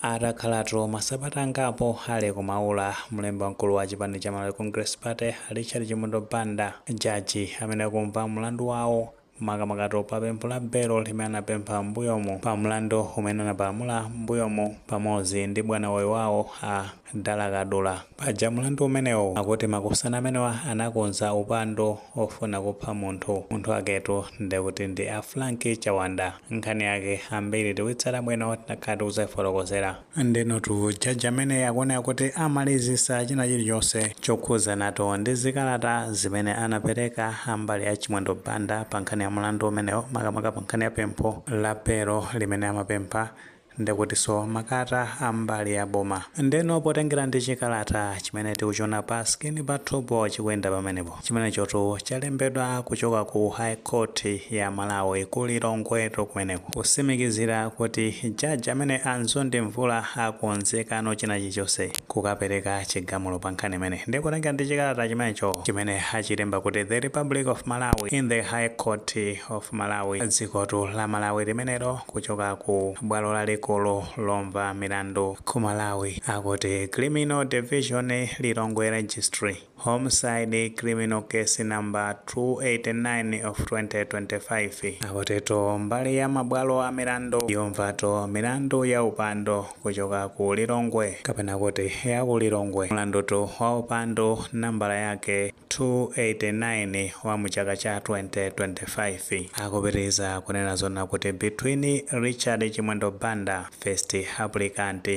Atakhalatu masabata angapo ali ku Maula, mlembi wamkulu wa chipani cha Malawi Congress Party Richard Chimwendo Banda, jaji amene akumva mlandu wawo makamakatu pa pempho la belo limene anapempha m'mbuyomu pa mlandu umene anapalamula m'mbuyomu pamodzi ndi bwanawe wawo a Dala Kadula. Paja mlandu umenewo akuti makosana amenewa anakonza upandu wofuna kupha munthu. Munthu waketu ndekuti ndi a Frank Chawanda. Nkhani yake ambiri tikuyitsata bwino takhala tikudzayifotokozera. Ndenotu jaji ameneyu akuoneka kuti amalizisa china chilichonse chokhudzanatu ndi zikalata zimene anapereka a mbali ya Chimwendo Banda pa nkhani ya mlandu umenewo makamaka pa nkhani ya pempho la belo limene amapempha. ndekutinso makalata a mbali ya boma ndeno potengera ndi chikalata chimene tikuchiona pa skini pathupo chikuyenda pamenepo chimenechotu chalembedwa kuchoka ku high court ya malawi ku lilongwetu kumeneko kutsimikizira kuti jaji ameneyi a Mzonde Mvula akonzekano china chilichonse kukapereka chigamulo pa nkhani imeneyi nde potengera ndi chikalata chimenecho chimene achilemba kuti the republic of malawi in the high court of malawi dzikotu la malawi limenelo Kuchoka ku bwalo lalikulu lomva milandu ku Malawi akuti Criminal Division, Lilongwe Registry, Homicide Criminal Case Number 289 of 2025, akutitu mbali ya mabwalo a milandu yomvatu milandu ya upandu kuchoka ku Lilongwe kapena kuti ya ku Lilongwe, mlandutu wa upandu nambala yake, 289 wa mu chaka cha 2025 akupitiliza kunena zoona kuti between Richard Chimwendo Banda, first applicant,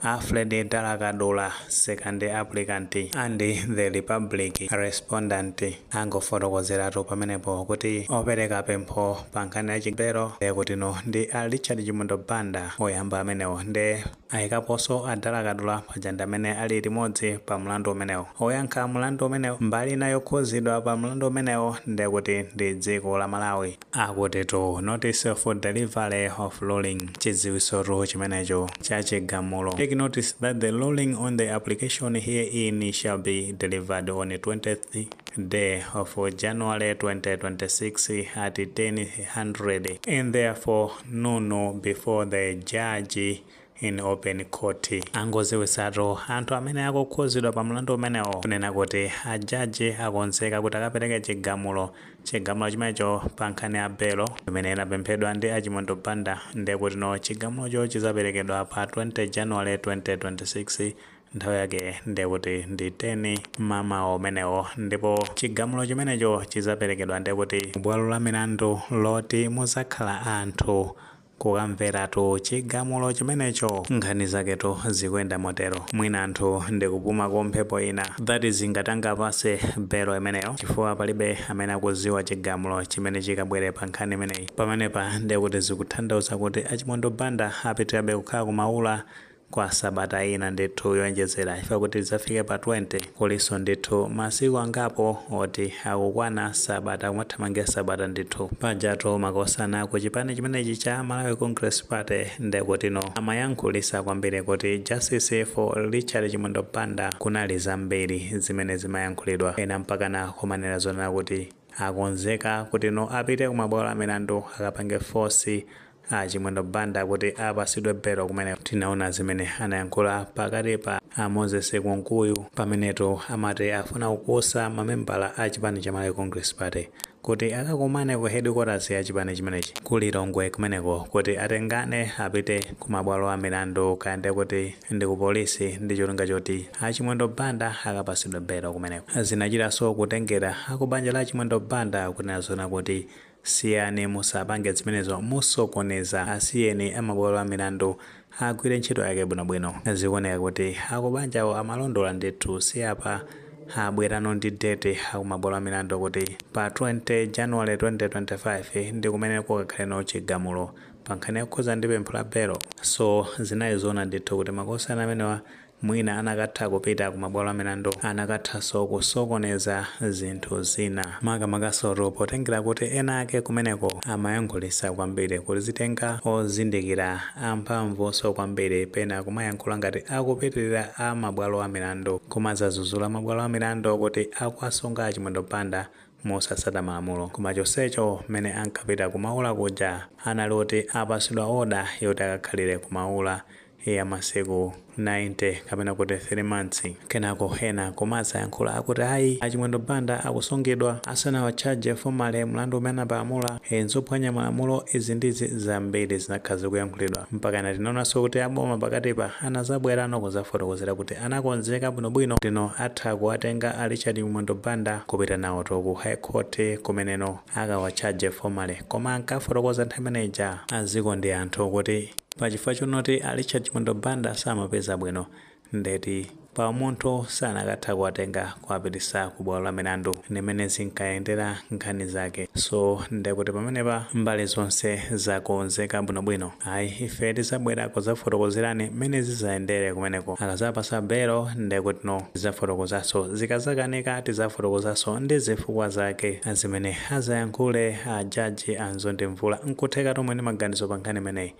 Alfred Dala Kadula, second applicant, and the Republic, respondent, angofotokozeratu pamenepo kuti opereka pempho pa nkhani ya belo ndekutino ndi a Richard Chimwendo Banda oyamba amenewo nde ayikaponso a Dala Kadula paja ndi amene ali limodzi pa mlandu umenewo. Oyankha mlandu umenewo mbali ina yokhudzidwa pa mlandu umenewo nde kuti ndi dziko la Malawi. Akutitu notice of delivery of ruling, chidziwitsotu chimenecho cha chigamulo, take notice that the ruling on the application herein shall be delivered on 20th day of January 2026 at 1000 in the fore noon before the judge in open court angodziwitsatu anthu amene akukhudzidwa pa mlandu umenewo kunena kuti ajaji akonzeka kuti akapereke chigamulo chigamulo chimenecho pa nkhani ya belo imene inapemphedwa ndi a Chimwendo Banda ndekutino chigamulocho chidzaperekedwa pa 20 january 2026 Nthawi yake ndiye kuti ndi 10 mmamawa umenewo ndipo chigamulo chimenecho chidzaperekedwa ndiye kuti bwalo la milandu loti mudzakhala anthu kukamveratu chigamulo chimenecho. Nkhani zaketu zikuyenda motero. Mwina anthu nkupumako mphepo ina that is ngati angapatsidwe belo imeneyo chifukwa palibe amene akudziwa chigamulo chimene chikabwere pa nkhani imeneyi. Pamenepa ndiye kuti zikutanthauza kuti a Chimwendo Banda apitirabe kukhala ku Maula kwa sabata ina ndithu yonjezera chifukwa kuti lidzafike pa 20 kulinso ndithu masiku angapo oti akukwana sabata kumathamangira sabata ndithu pajatu makosana ku chipani chimenechi cha Malawi Congress Party ndekutino amayankhulisa kwambiri kuti Justice for Richard Chimwendo Banda kunali zambiri zimene zimayankhulidwa ena mpakana kumanena zoona kuti akonzeka kutino apite ku mabwalo a milandu akapange force A Chimwendo Banda kuti apasidwe belo kumeneko. Tinaona zimene anayankhula pakati pa a Moses Kunkuyu pamenetu amati afuna kukusa mamembala a chipani cha Malawi Congress Party kuti akakumane ku headquarters ya chipani chimenechi ku Lilongwe kumeneko kuti atengane apite ku mabwalo a milandu kaya ndiye kuti ndi ku polisi ndi cholinga choti a Chimwendo Banda akapasidwe belo kumeneko. Zinachitanso kutengera a ku banja la Chimwendo Banda kunena zoona kuti Siyani musapange zimenezo musokoneza asiyeni amabwalo amilandu agwire ntchito yake bwino bwino zikuoneka kuti akubanjawo amalondola ndithu si apa abwerano ndi date akumabwalo amilandu kuti pa 20 January 2025 ndikumene kukakhaleno chigamulo pankhani yokhuza ndi pempho la belo so zinali zoona ndithu kuti makosana amenewa Mwina anakatha kupita ku mabwalo a milandu. Anakathanso kusokoneza zinthu zina. Makamakasotu potengera kuti ena ake kumeneko amayankhulitsa kwambiri. Kuzitenga ozindikira amphamvunso kwambiri pena kumayankhula ngati akupitirira a mabwalo a milandu. Kumadzadzudzula mabwalo a milandu kuti akuwasunga a Chimwendo Banda mosatsata malamulo. Koma chonsecho mmene ankapita ku Maula kuja anali oti apatsidwa order yoti akakhalire ku Maula. ya masiku 90 kapena kuti 3 months. Kenako ena kumadzayankhula akuti ayi a Chimwendo Banda akusungidwa asanawatchaje formally mlandu umene anapalamula, ee nzophwanya malamulo izi ndi zi zambiri zinakhala zikuyankhulidwa mpakana tinaonanso kuti a boma pakatipa anazabwerano kuzafotokozera kuti anakonzeka bwino bwino kutino atha kuwatenga a Richard Chimwendo Banda kupita nawoto ku high court kumeneno akawatchaje formally koma ankafotokoza nthawi imene ija a Nzikondi Anthu kuti pa chifukwa chonoti a Richard Chimwendo Banda samapeza bwino ndeti pa umunthu sanakatha kuwatenga kuwapitisa ku bwalo la milandu ndimene zinkayendera nkhani zake so ndekuti pamenepa mbali zonse zakonzeka bwinobwino. Ayi ife tizabwera kuzafotokozerani mmene zizayendere kumeneko akazapasa belo ndekutino tizafotokozaso zikazakanika tizafotokozaso ndi zifukwa zake zimene azayankhule a jaji a Nzondi Mvula nkutheka tomwe ndi maganizo pankhani imeneyi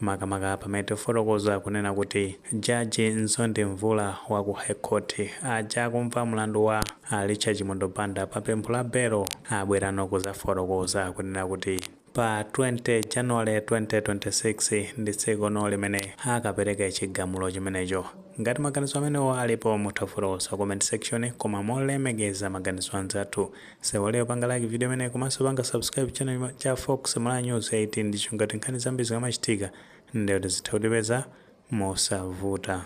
makamaka pamene tifotokoza kunena kuti jaji Nzondi Mvula wa ku High Court aja akumva mlandu wa a Richard Chimwendo Banda pa pempho la belo abwerano kuzafotokoza kunena kuti Pa 20 January 2026 ndi tsiku lomwelo limene akapereka chigamulo chimenecho. Ngati maganizo amenewo alipo mutha kufotokoza ku comment section koma molemekeza maganizo anzathu. Musaiwale kupanga like video imeneyi komanso kupanga subscribe channel cha Fox Malawi News 18 ndicho kuti nkhani zambiri zikamachitika ndiye kuti zizitha kutipeza mosavuta.